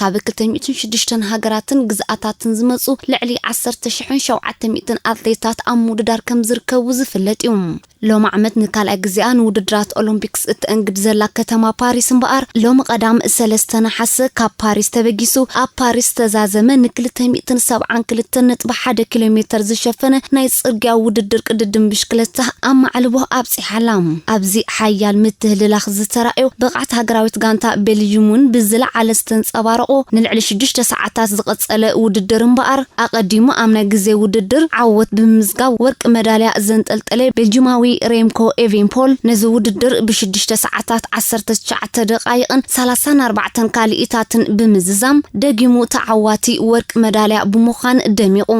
ካብ ክልተ ሚእትን ሽዱሽተን ሃገራትን ግዝኣታትን ዝመጹ ልዕሊ ዓሰርተ ሽሕን ሸውዓተ ሚእትን ኣትሌታት ኣብ ምውድዳር ከምዝርከቡ ዝፍለጥ እዩ። ሎሚ ዓመት ንካልኣይ ግዜኣ ንውድድራት ኦሎምፒክስ እተእንግድ ዘላ ከተማ ፓሪስ እምበኣር፣ ሎሚ ቀዳም ሰለስተ ነሓሰ ካብ ፓሪስ ተበጊሱ ኣብ ፓሪስ ዝተዛዘመ ንክልተ ሚእትን ሰብዓን ክልተን ነጥቢ ሓደ ኪሎሜተር ዝሸፈነ ናይ ጽርግያ ውድድር ቅድድም ብሽክለታ ኣብ ማዕልቦ ኣብጺሓ። ሓላም ኣብዚ ሓያል ምትህልላኽ ዝተራእዮ ብቕዓት ሃገራዊት ጋንታ ቤልጅዩም'ውን ብዝለዓለ ዝተንጸባረቖ ንልዕሊ ሽዱሽተ ሰዓታት ዝቐጸለ ውድድር እምበኣር፣ ኣቐዲሙ ኣብ ናይ ግዜ ውድድር ዓወት ብምምዝጋብ ወርቂ መዳልያ ዘንጠልጠለ ቤልጅዩማዊ ሬምኮ ኤቬንፖል ነዚ ውድድር ብሽዱሽተ ሰዓታት ዓሰርተ ትሽዓተ ደቓይቕን ሰላሳን ኣርባዕተን ካልኢታትን ብምዝዛም ደጊሙ ተዓዋቲ ወርቂ መዳልያ ብምዃን ደሚቑ።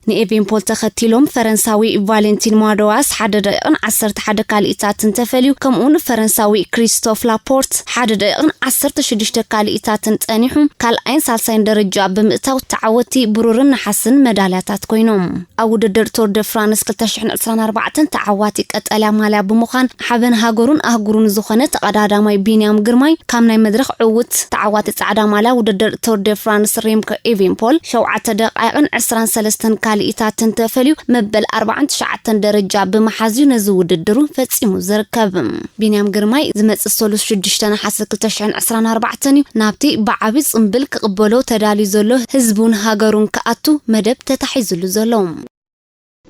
ንኤቬንፖል ተኸቲሎም ፈረንሳዊ ቫሌንቲን ማዶዋስ ሓደ ደቂቕን ዓሰርተ ሓደ ካልኢታትን ተፈልዩ፣ ከምኡ'ውን ፈረንሳዊ ክሪስቶፍ ላፖርት ሓደ ደቂቕን ዓሰርተ ሽዱሽተ ካልኢታትን ጸኒሑ ካልኣይን ሳልሳይን ደረጃ ብምእታው ተዓወቲ ብሩርን ነሓስን መዳልያታት ኮይኖም። ኣብ ውድድር ቱር ደ ፍራንስ ክልተ ሽሕን ዕስራን ኣርባዕተን ተዓዋቲ ቀጠልያ ማልያ ብምዃን ሓበን ሃገሩን ኣህጉሩን ዝኾነ ተቐዳዳማይ ቢንያም ግርማይ ካብ ናይ መድረኽ ዕዉት ተዓዋቲ ጻዕዳ ማልያ ውድድር ቱር ደ ፍራንስ ሬምኮ ኢቪንፖል ሸውዓተ ደቓይቕን ዕስራን ሰለስተን ካልኢታትን ተፈልዩ መበል ኣርባዓን ትሽዓተን ደረጃ ብምሓዝ'ዩ ነዚ ውድድሩ ፈጺሙ ዝርከብ። ቢንያም ግርማይ ዝመጽእ ሰሉስ ሽዱሽተ ነሓሰ ክልተ ሽሕን ዕስራን ኣርባዕተን'ዩ ናብቲ ብዓቢ ጽምብል ክቕበሎ ተዳልዩ ዘሎ ህዝቡን ሃገሩን ክኣቱ መደብ ተታሒዝሉ ዘሎ።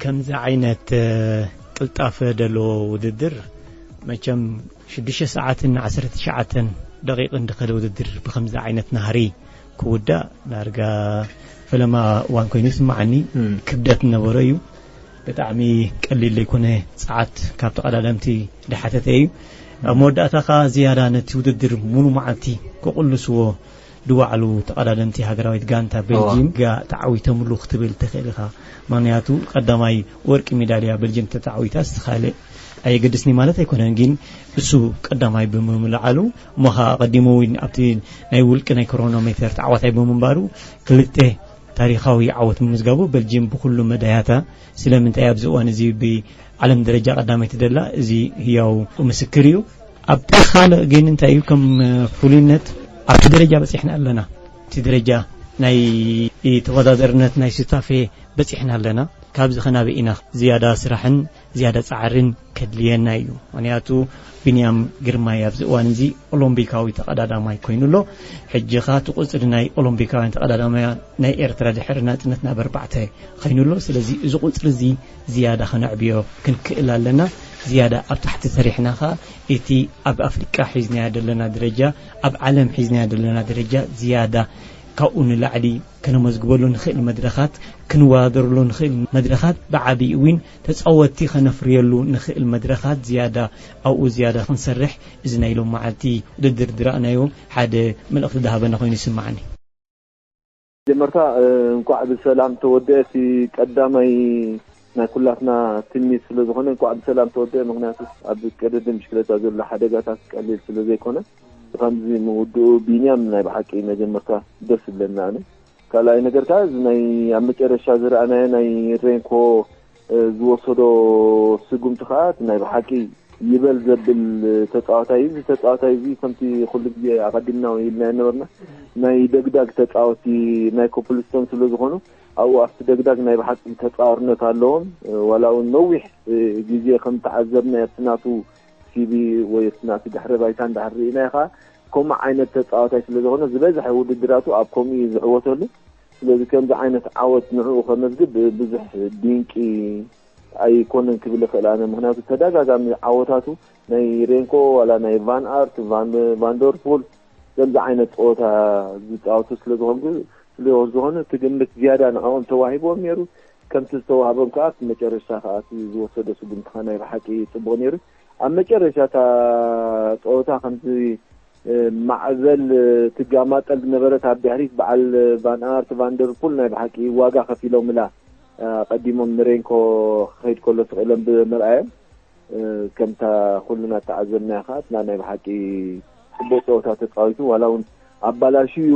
ከምዚ ዓይነት ቅልጣፈ ደለዎ ውድድር መቸም ሽዱሽተ ሰዓትን ዓሰርተ ትሽዓተን ደቂቅን ድኸደ ውድድር ብከምዚ ዓይነት ናህሪ ክውዳእ ዳርጋ ፈለማ እዋን ኮይኑ ይስማዓኒ ክብደት ነበሮ እዩ ብጣዕሚ ቀሊል ዘይኮነ ጸዓት ካብ ተቐዳደምቲ ድሓተተ እዩ ኣብ መወዳእታ ከኣ ዝያዳ ነቲ ውድድር ሙሉ መዓልቲ ክቕልስዎ ዝወዓሉ ተቐዳደምቲ ሃገራዊት ጋንታ ቤልጂም ግያ ተዓዊቶምሉ ክትብል ትኽእል ኢኻ። ምኽንያቱ ቀዳማይ ወርቂ ሜዳልያ ቤልጂም ተተዓዊታስ ካልእ ኣየገድስን'ዩ ማለት ኣይኮነን፣ ግን እሱ ቀዳማይ ብምምልዓሉ እሞ ከኣ ኣቐዲሙ ውን ኣብቲ ናይ ውልቂ ናይ ክሮኖሜተር ተዓዋታይ ብምንባሩ ክልተ ታሪኻዊ ዓወት ምምዝጋቡ ቤልጂም ብኹሉ መዳያታ ስለምንታይ ኣብዚ እዋን እዚ ብዓለም ደረጃ ቀዳመይቲ ደላ እዚ ህያው ምስክር'ዩ። ኣብቲ ካልእ ግን እንታይ እዩ ከም ፍሉይነት ኣብቲ ደረጃ በጺሕና ኣለና እቲ ደረጃ ናይ ተወዳደርነት ናይ ሱታፌ በጺሕና ኣለና ካብዚ ከናበይ ኢና ዝያዳ ስራሕን ዝያዳ ጻዕርን ከድልየና እዩ ምክንያቱ ቢንያም ግርማይ ኣብዚ እዋን እዚ ኦሎምፒካዊ ተቐዳዳማይ ኮይኑ ኣሎ ሕጂ ከ እቲ ቁጽሪ ናይ ኦሎምፒካውያን ተቐዳዳማያ ናይ ኤርትራ ድሕሪ ናጽነት ናብ ኣርባዕተ ኮይኑ ኣሎ ስለዚ እዚ ቁጽሪ እዚ ዝያዳ ከነዕብዮ ክንክእል ኣለና። ዝያዳ ኣብ ታሕቲ ሰሪሕና ከኣ እቲ ኣብ ኣፍሪቃ ሒዝናዮ ደለና ደረጃ፣ ኣብ ዓለም ሒዝናዮ ደለና ደረጃ ዝያዳ ካብኡ ንላዕሊ ከነመዝግበሉ ንክእል መድረኻት፣ ክንወዳደረሉ ንክእል መድረኻት ብዓቢኡ ዊን ተጻወቲ ከነፍርየሉ ንክእል መድረኻት ዝያዳ ኣብኡ ዝያዳ ክንሰርሕ እዚ ናይ ሎምዓልቲ ውድድር ዝረኣናዮ ሓደ መልእኽቲ ዝሃበና ኮይኑ ይስመዓኒ። መጀመርታ እንኳዕ ብሰላም ተወደኣ እቲ ቀዳማይ ናይ ኩላትና ትምኒት ስለ ዝኾነ እንኳዕ ብሰላም ተወደኣ ምክንያቱ ኣብ ቀደድም ብሽክለታ ዘሎ ሓደጋታት ቀሊል ስለ ዘይኮነ ብከምዚ ምውድኡ ቢንያም ናይ ብሓቂ መጀመርታ ደስ ይብለኒ ኣነ ካልኣይ ነገር ከኣ እዚ ናይ ኣብ መጨረሻ ዝረኣናዮ ናይ ሬንኮ ዝወሰዶ ስጉምቲ ከኣ እቲ ናይ ብሓቂ ይበል ዘብል ተጻዋታይ እዩ። እዚ ተጻዋታይ እዚ ከምቲ ኩሉ ግዜ ኣቐዲምና እውን ኢልናዮ ነበርና ናይ ደግዳግ ተጻወቲ ናይ ኮፕልስቶን ስለ ዝኾኑ ኣብኡ ኣብቲ ደግዳግ ናይ ብሓቂ ተጻዋርነት ኣለዎም ዋላ እውን ነዊሕ ግዜ ከም ተዓዘብናዮ ኣብቲ ናቱ ሲቪ ወይ ኣብቲ ናቱ ድሕረ ባይታ እንድሕር ርኢናዮ ከኣ ከምኡ ዓይነት ተጻዋታይ ስለ ዝኾነ ዝበዝሐ ውድድራቱ ኣብ ከምኡ እዩ ዝዕወተሉ። ስለዚ ከምዚ ዓይነት ዓወት ንዕኡ ከመዝግብ ብዙሕ ድንቂ ኣይኮነን ክብል ይኽእል ኣነ ምክንያቱ ተደጋጋሚ ዓወታቱ ናይ ሬንኮ ዋላ ናይ ቫን ኣርት ቫንደርፑል ከምዚ ዓይነት ፀወታ ዝፃወቱ ስለዝኾኑ ስለዝኾነ እቲ ግምት ዝያዳ ንዕኦም ተዋሂቦም ነይሩ ከምቲ ዝተዋህቦም ከዓ እቲ መጨረሻ ከዓ እቲ ዝወሰደ ስጉምቲ ከዓ ናይ ብሓቂ ፅቡቅ ነይሩ ኣብ መጨረሻ እታ ፀወታ ከምዚ ማዕበል ትጋማጠል ዝነበረት ኣብ ድሕሪት በዓል ቫን ኣርት ቫን ደር ፑል ናይ ብሓቂ ዋጋ ከፊሎምላ ቀዲሞም ንሬንኮ ክኸይድ ከሎ ስቂሎም ብምርኣዮም ከምታ ኩልና ተዓዘብናያ ከዓ እትና ናይ ብሓቂ ፅቡቅ ፀወታ ተፃዊቱ ዋላ እውን ኣባላሽዩ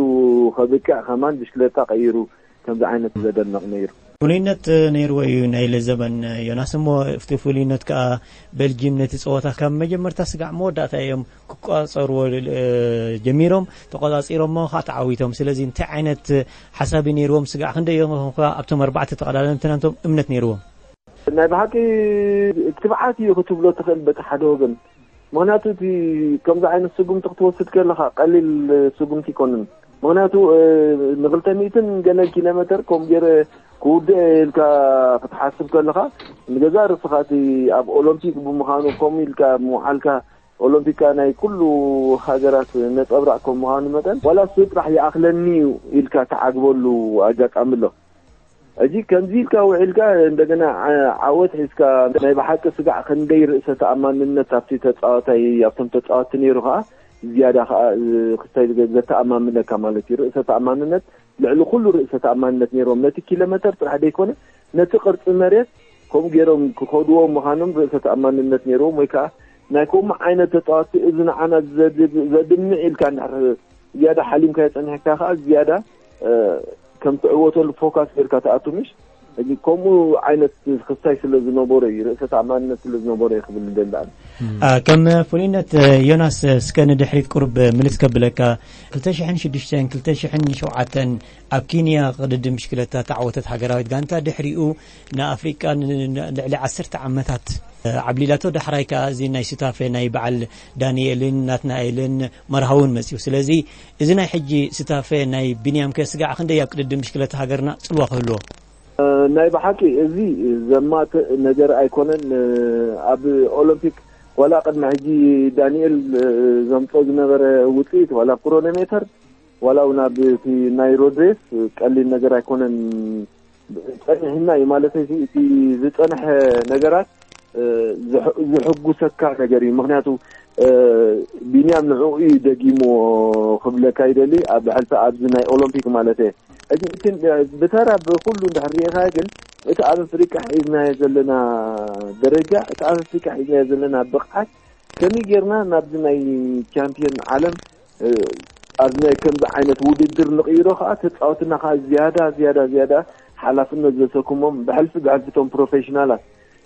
ከብቅዕ ከማን ብሽክለታ ቀይሩ ከምዚ ዓይነት ዘደንቕ ነይሩ። ፍሉይነት ነይርዎ እዩ ናይ ለዘበን ዮናስ እሞ እፍቲ ፍሉይነት ከኣ በልጂም ነቲ ጸወታ ካብ መጀመርታ ስጋዕ መወዳእታ እዮም ክቋጸርዎ ጀሚሮም ተቆጻጺሮሞ ከኣ ተዓዊቶም ስለዚ እንታይ ዓይነት ሓሳብ እዩ ነይርዎም ስጋዕ ክንደይ እዮም ኮንካ ኣብቶም ኣርባዕተ ተቐዳደምቲ ናንቶም እምነት ነይርዎም ናይ ብሓቂ ትብዓት እዩ ክትብሎ ትኽእል በቲ ሓደ ወገን ምክንያቱ እቲ ከምዚ ዓይነት ስጉምቲ ክትወስድ ከለካ ቀሊል ስጉምቲ ይኮንን ምክንያቱ ንክልተ ሚእትን ገለን ኪሎ ሜተር ከምኡ ገይረ ክውድእ ኢልካ ክትሓስብ ከለካ ንገዛ ርስካ እቲ ኣብ ኦሎምፒክ ብምዃኑ ከምኡ ኢልካ ምውዓልካ ኦሎምፒካ ናይ ኩሉ ሃገራት ነፀብራቅ ከም ምዃኑ መጠን ዋላ እሱ ጥራሕ ይኣክለኒ እዩ ኢልካ ትዓግበሉ ኣጋጣሚ ኣሎ ሕጂ ከምዚ ኢልካ ውዒልካ እንደገና ዓወት ሒዝካ ናይ ብሓቂ ስጋዕ ክንደይ ርእሰ ተኣማንነት ኣብቲ ተጻዋታይ ኣብቶም ተጻወቲ ነይሩ ከኣ ዝያዳ ከኣ ክስታይ ዘተኣማምነካ ማለት እዩ ርእሰ ተኣማንነት ልዕሊ ኩሉ ርእሰ ተኣማንነት ነይሮም ነቲ ኪሎመተር ጥራሕ ዘይኮነ ነቲ ቅርጺ መሬት ከምኡ ገይሮም ክኸድዎ ምዃኖም ርእሰ ተኣማንነት ነይሮም ወይ ከኣ ናይ ከምኡ ዓይነት ተጻወቲ እዚ ንዓና ዘድምዕ ኢልካ ዝያዳ ሓሊምካዮ ጸኒሕካ ከኣ ዝያዳ ከም ትዕወተሉ ፎካስ ጌርካ ትኣቱ ምሽ እዚ ከምኡ ዓይነት ክሳይ ስለ ዝነበሮ እዩ ርእሰ ተኣማንነት ስለ ዝነበሮ እዩ ክብል ደሊ ኣነ ከም ፍሉይነት ዮናስ እስከ ንድሕሪት ቁርብ ምልስ ከብለካ 2006 2007 ኣብ ኬንያ ቅድዲ ምሽክለታ ተዓወተት ሃገራዊት ጋንታ ድሕሪኡ ንኣፍሪቃ ልዕሊ ዓሰርተ ዓመታት ዓብሊላቶ ዳሕራይ ከዓ እዚ ናይ ሱታፌ ናይ በዓል ዳንኤልን ናትናኤልን መርሃውን መፅኡ ስለዚ እዚ ናይ ሕጂ ስታፌ ናይ ቢንያም ከ ስጋዕ ክንደይ ኣብ ቅድድም ብሽክለታ ሃገርና ጽልዋ ክህልዎ? ናይ ብሓቂ እዚ ዘማትእ ነገር ኣይኮነን ኣብ ኦሎምፒክ ዋላ ቅድሚ ሕጂ ዳኒኤል ዘምጾ ዝነበረ ውጽኢት ዋላ ኣብ ክሮኔሜተር ዋላ ውን ኣብ እቲ ናይ ሮድሬስ ቀሊል ነገር ኣይኮነን ጸኒሕና እዩ ማለት እዚ እቲ ዝጸንሐ ነገራት ዝሕጉሰካ ነገር እዩ ምክንያቱ ቢንያም ንዕኡ እዩ ደጊምዎ ክብለካ ይደሊ ኣብ ሕልፊ ኣብዚ ናይ ኦሎምፒክ ማለት እየ እዚ ብተራ ብኩሉ እንድሕር ሪኢኻዮ ግን እቲ ኣብ ኣፍሪቃ ሒዝናዮ ዘለና ደረጃ እቲ ኣብ ኣፍሪቃ ሒዝናዮ ዘለና ብቕዓት ከመይ ጌርና ናብዚ ናይ ቻምፒዮን ዓለም ኣብ ናይ ከምዚ ዓይነት ውድድር ንቕይሮ ከዓ ተፃወትና ከዓ ዝያዳ ዝያዳ ዝያዳ ሓላፍነት ዘሰክሞም ብሕልፊ ብሕልፊ እቶም ፕሮፌሽናላት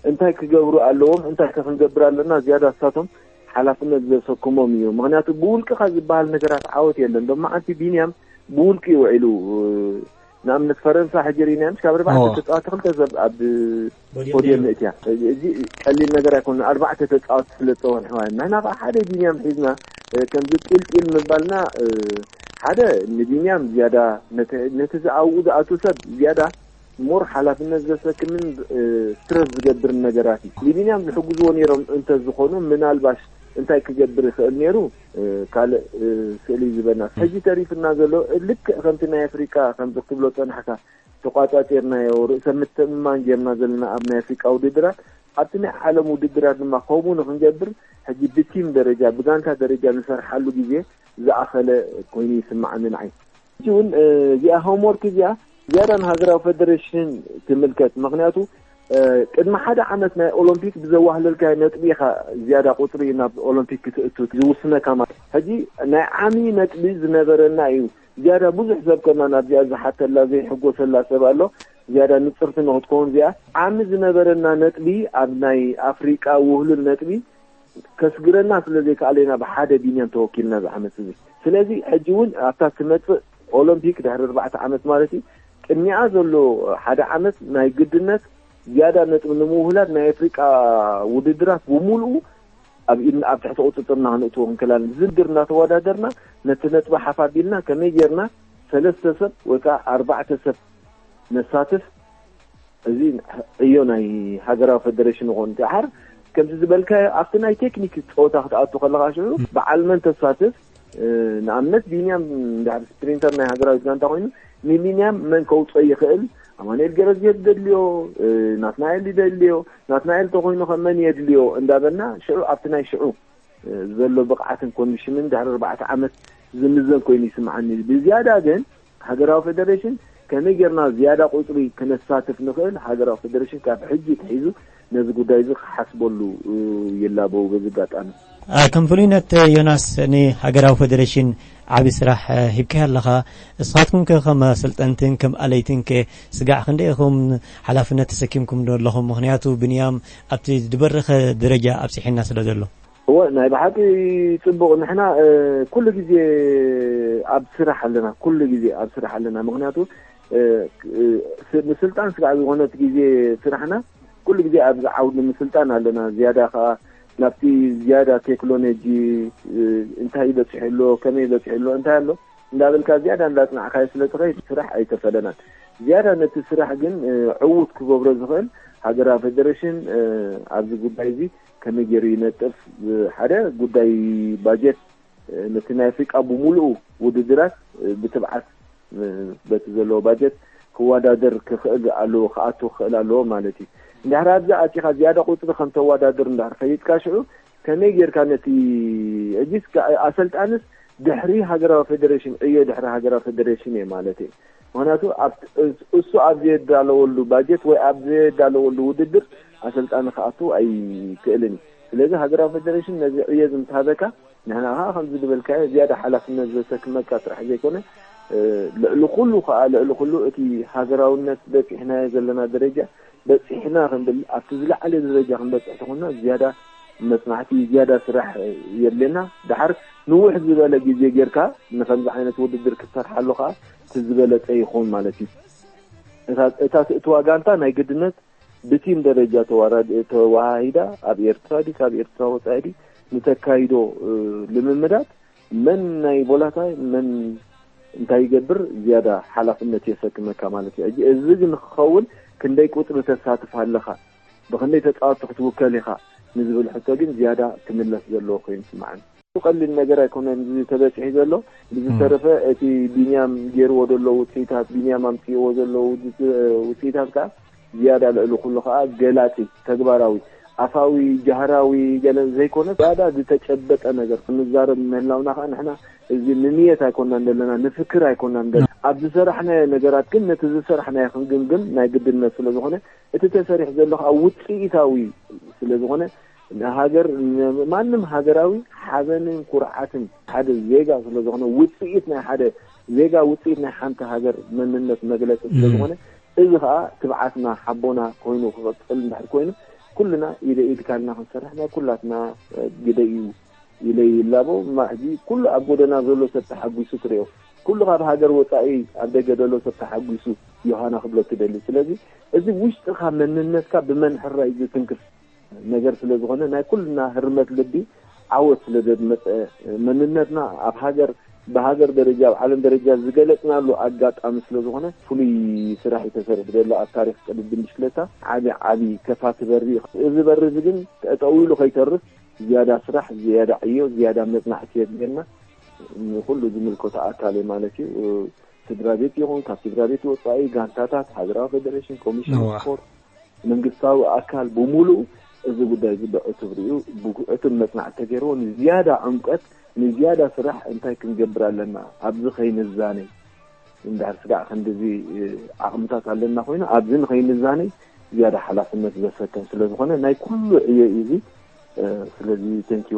እንታይ ክገብሩ ኣለዎም እንታይ ከ ክንገብር ኣለና ዝያዳ ንሳቶም ሓላፍነት ዘሰክሞም እዩ ምክንያቱ ብውልቅኻ ዝበሃል ነገራት ዓወት የለን ዶ መዓንቲ ቢንያም ብውልቂ ይውዒሉ ንኣብነት ፈረንሳ ሕጂ ሪኢና ምስ ካብ ኣርባዕተ ተፃዋቲ ክልተ ሰብ ኣብ ፖድየም ምእትያ እዚ ቀሊል ነገር ኣይኮነ ኣርባዕተ ተፃዋቲ ስለ ዝፀወርሕዋ ንሕና ከዓ ሓደ ቢንያም ሒዝና ከምዚ ጢልጢል ምባልና ሓደ ንቢንያም ዝያዳ ነቲ ዝኣብኡ ዝኣቱ ሰብ ዝያዳ ሞር ሓላፍነት ዘሰክምን ስትረስ ዝገብርን ነገራት እዩ ንቢንያም ዝሕግዝዎ ነይሮም እንተዝኾኑ ምናልባሽ እንታይ ክገብር ይኽእል ነይሩ ካልእ ስእሊ ዝበናስ ሕጂ ተሪፍና ዘሎ ልክዕ ከምቲ ናይ ኣፍሪቃ ከምዚ ክትብሎ ጸናሕካ ተቋጻጺርናዮ ርእሰ ምትእምማን ጌርና ዘለና ኣብ ናይ ኣፍሪቃ ውድድራት ኣብቲ ናይ ዓለም ውድድራት ድማ ከምኡ ንክንገብር ሕጂ ብቲም ደረጃ ብጋንታ ደረጃ ንሰርሓሉ ግዜ ዝኣኸለ ኮይኑ ይስማዓኒ ንዓይ ሕጂ ውን እዚኣ ሆምወርክ እዚኣ ዝያዳ ንሃገራዊ ፈደረሽን ትምልከት ምኽንያቱ ቅድሚ ሓደ ዓመት ናይ ኦሎምፒክ ብዘዋህለልካዮ ነጥቢ ኢኻ ዝያዳ ቁጽሪ ናብ ኦሎምፒክ ክትእቱ ዝውስነካ ማለት እዩ። ሕጂ ናይ ዓሚ ነጥቢ ዝነበረና እዩ ዝያዳ ብዙሕ ሰብ ከማን ኣብዚኣ ዝሓተላ ዘይሕጎሰላ ሰብ ኣሎ ዝያዳ ንጽርቲ ንኽትከውን እዚኣ ዓሚ ዝነበረና ነጥቢ ኣብ ናይ ኣፍሪቃ ውህሉል ነጥቢ ከስግረና ስለ ዘይከኣለ ኢና ብሓደ ቢንያም ተወኪልና እዚ ዓመት እዚ። ስለዚ ሕጂ ውን ኣብታ እትመጽእ ኦሎምፒክ ድሕሪ ኣርባዕተ ዓመት ማለት እዩ ቅድሚኣ ዘሎ ሓደ ዓመት ናይ ግድነት ዝያዳ ነጥቢ ንምውህላል ናይ ኣፍሪቃ ውድድራት ብምሉኡ ኣብ ኢድና ኣብ ትሕቲ ቁጽጽርና ክንእትዎ ክንከላለን ዝድር እናተወዳደርና ነቲ ነጥቢ ሓፍ ኣቢልና ከመይ ጌርና ሰለስተ ሰብ ወይ ከዓ ኣርባዕተ ሰብ ነሳትፍ እዚ ዕዮ ናይ ሃገራዊ ፈደረሽን ይኾን እንተሓር ከምቲ ዝበልካዮ ኣብቲ ናይ ቴክኒክ ፀወታ ክትኣቱ ከለካ ሽዑ በዓል መን ተሳትፍ ንኣብነት ቢንያም ድሕሪ ስፕሪንተር ናይ ሃገራዊት ጋንታ ኮይኑ ንቢንያም መን ከውፅኦ ይኽእል ኣማንኤል ገረዝጌት ደድልዮ ናትናኤል ይደልዮ ናትናኤል ተኮይኑ ከ መን የድልዮ እንዳበልና ሽዑ ኣብቲ ናይ ሽዑ ዘሎ ብቕዓትን ኮንዲሽንን ድሕሪ ኣርባዕተ ዓመት ዝምዘን ኮይኑ ይስምዓኒ ብዝያዳ ግን ሃገራዊ ፈደረሽን ከመይ ጌርና ዝያዳ ቁጽሪ ከነሳትፍ ንኽእል ሃገራዊ ፈደረሽን ካብ ሕጂ ኣትሒዙ ነዚ ጉዳይ እዚ ክሓስበሉ ይላበው በዚ ኣጋጣሚ። ከም ፍሉይነት ዮናስ ንሃገራዊ ፈደረሽን ዓቢ ስራሕ ሂብካዮ ኣለኻ። እስኻትኩም ከ ከም ኣሰልጠንትን ከም ኣለይትን ከ ስጋዕ ክንደይ ኢኹም ሓላፍነት ተሰኪምኩምዶ ኣለኹም ምኽንያቱ ብንያም ኣብቲ ድበረኸ ደረጃ ኣብጺሒና ስለ ዘሎ። እወ ናይ ብሓቂ ጽቡቅ ንሕና ኩሉ ግዜ ኣብ ስራሕ ኣለና ኩሉ ግዜ ኣብ ስራሕ ኣለና ምክንያቱ ምስልጣን ስጋዕ ዝኾነት ግዜ ስራሕና ኩሉ ግዜ ኣብዚ ዓውዲ ምስልጣን ኣለና ዝያዳ ከዓ ናብቲ ዝያዳ ቴክኖሎጂ እንታይ ይበፅሑ ኣሎ ከመይ ይበፅሑ ኣሎ እንታይ ኣሎ እንዳበልካ ዝያዳ እንዳፅናዕካዮ ስለ ትኸይድ ስራሕ ኣይተፈለናን ዝያዳ ነቲ ስራሕ ግን ዕዉት ክገብሮ ዝኽእል ሃገራዊ ፌደሬሽን ኣብዚ ጉዳይ እዚ ከመይ ጌሩ ይነጥፍ ሓደ ጉዳይ ባጀት ነቲ ናይ ኣፍሪቃ ብምሉኡ ውድድራት ብትብዓት በቲ ዘለዎ ባጀት ክወዳደር ክኽእል ኣለዎ ክኣቱ ክኽእል ኣለዎ ማለት እዩ እንድሕር ኣብዚ ኣቲኻ ዝያዳ ቁፅሪ ከም ተወዳድር እንድሕር ፈሊጥካ ሽዑ ከመይ ጌርካ ነቲ ሕጂስ ኣሰልጣንስ ድሕሪ ሃገራዊ ፌዴሬሽን ዕዮ ድሕሪ ሃገራዊ ፌዴሬሽን እየ ማለት እዩ ምክንያቱ እሱ ኣብ ዘየዳለወሉ ባጀት ወይ ኣብ ዘየዳለወሉ ውድድር ኣሰልጣኒ ክኣቱ ኣይክእልን እዩ። ስለዚ ሃገራዊ ፈደረሽን ነዚ ዕዮ እዚ ምስ ሃበካ ንሕና ከኣ ከምዚ ዝበልካዮ ዝያዳ ሓላፍነት ዘሰክመካ ጥራሕ ዘይኮነ ልዕሊ ኩሉ ከኣ ልዕሊ ኩሉ እቲ ሃገራውነት በጺሕናዮ ዘለና ደረጃ በጺሕና ክንብል ኣብቲ ዝለዓለ ደረጃ ክንበጽሕ ተኾንና ዝያዳ መጽናዕቲ ዝያዳ ስራሕ የድልየና ደሓር ንውሕ ዝበለ ግዜ ጌርካ ንከምዚ ዓይነት ውድድር ክትሰርሓሉ ከኣ እቲ ዝበለጸ ይኾን ማለት እዩ እታ እታ ትእትዋ ጋንታ ናይ ግድነት ብቲም ደረጃ ተዋሃሂዳ ኣብ ኤርትራ ዲ ካብ ኤርትራ ወጻኢ ዲ ንተካይዶ ልምምዳት መን ናይ ቦላታይ መን እንታይ ይገብር ዝያዳ ሓላፍነት የሰክመካ ማለት እዩ። ሕጂ እዚ ግን ክኸውን ክንደይ ቁጽሪ ተሳትፍ ኣለኻ፣ ብኽንደይ ተጻወትቲ ክትውከል ኢኻ ንዝብል ሕቶ ግን ዝያዳ ክምለስ ዘለዎ ኮይኑ ይስምዓኒ። ቀሊል ነገር ኣይኮነን እዚ ተበጺሑ ዘሎ። ብዝተረፈ እቲ ቢንያም ጌርዎ ዘሎ ውጽኢታት፣ ቢንያም ኣምጺእዎ ዘሎ ውጽኢታት ከኣ፣ ዝያዳ ልዕሊ ኩሉ ከኣ ገላጺ፣ ተግባራዊ፣ ኣፋዊ፣ ጃህራዊ፣ ገለ ዘይኮነስ ዝያዳ ዝተጨበጠ ነገር ክንዛረብ ምህላውና ከኣ ንሕና እዚ ንንየት ኣይኮናን ዘለና ንፍክር ኣይኮናን ደለ ኣብ ዝሰራሕናዮ ነገራት ግን ነቲ ዝሰራሕናዮ ክንግምግም ናይ ግድነት ስለ ዝኾነ እቲ ተሰሪሑ ዘሎ ከኣ ውጽኢታዊ ስለ ዝኾነ ንሃገር ማንም ሃገራዊ ሓበንን ኩርዓትን ሓደ ዜጋ ስለ ዝኾነ ውጽኢት ናይ ሓደ ዜጋ ውጽኢት ናይ ሓንቲ ሃገር መንነት መግለጺ ስለ ዝኾነ እዚ ከኣ ትብዓትና ሓቦና ኮይኑ ክቅጽል እንድሕር ኮይኑ ኩልና ኢደ ኢድ ካልና ክንሰርሕ ናይ ኩላትና ግደ ኢዩ ኢለ ይላቦ እማ ሕጂ ኩሉ ኣብ ጎደና ዘሎ ሰብ ተሓጉሱ ትሪኦ ኩሉ ካብ ሃገር ወጻኢ ኣብ ደገ ደሎ ሰብ ተሓጉሱ ዮሃና ክብሎ ትደሊ ስለዚ እዚ ውሽጥካ መንነትካ ብመን ሕራይ ዝትንክፍ ነገር ስለ ዝኾነ ናይ ኩልና ህርመት ልቢ ዓወት ስለ ዘድመጸ መንነትና ኣብ ሃገር ብሃገር ደረጃ ኣብ ዓለም ደረጃ ዝገለጽናሉ ኣጋጣሚ ስለ ዝኾነ ፍሉይ ስራሕ እዩ ተሰሪሑ ዘሎ ኣብ ታሪኽ ቅድድም ብሽክለታ ዓቢ ዓቢ ከፋቲ በሪ እዩ እዚ በሪ እዚ ግን ጠጠው ኢሉ ከይተርፍ ዝያዳ ስራሕ ዝያዳ ዕዮ ዝያዳ መጽናዕቲ የድልየና ንኹሉ ዝምልከቶ ኣካል እዩ ማለት እዩ ስድራ ቤት ይኹን ካብ ስድራ ቤት ወጻኢ ጋንታታት ሃገራዊ ፌደሬሽን ኮሚሽን ስፖርት መንግስታዊ ኣካል ብሙሉኡ እዚ ጉዳይ እዚ ብዕቱብ ሪኡ ብዕቱብ መፅናዕቲ ተገይርዎ ንዝያዳ ዕምቆት ንዝያዳ ስራሕ እንታይ ክንገብር ኣለና ኣብዚ ከይንዛነይ እንድሕር ስጋዕ ክንድዚ ዓቕምታት ኣለና ኮይኑ ኣብዚ ንኸይንዛነይ ዝያዳ ሓላፍነት ዘሰከም ስለዝኾነ ናይ ኩሉ ዕዮ እዩ እዚ ስለዚ ተንኪዩ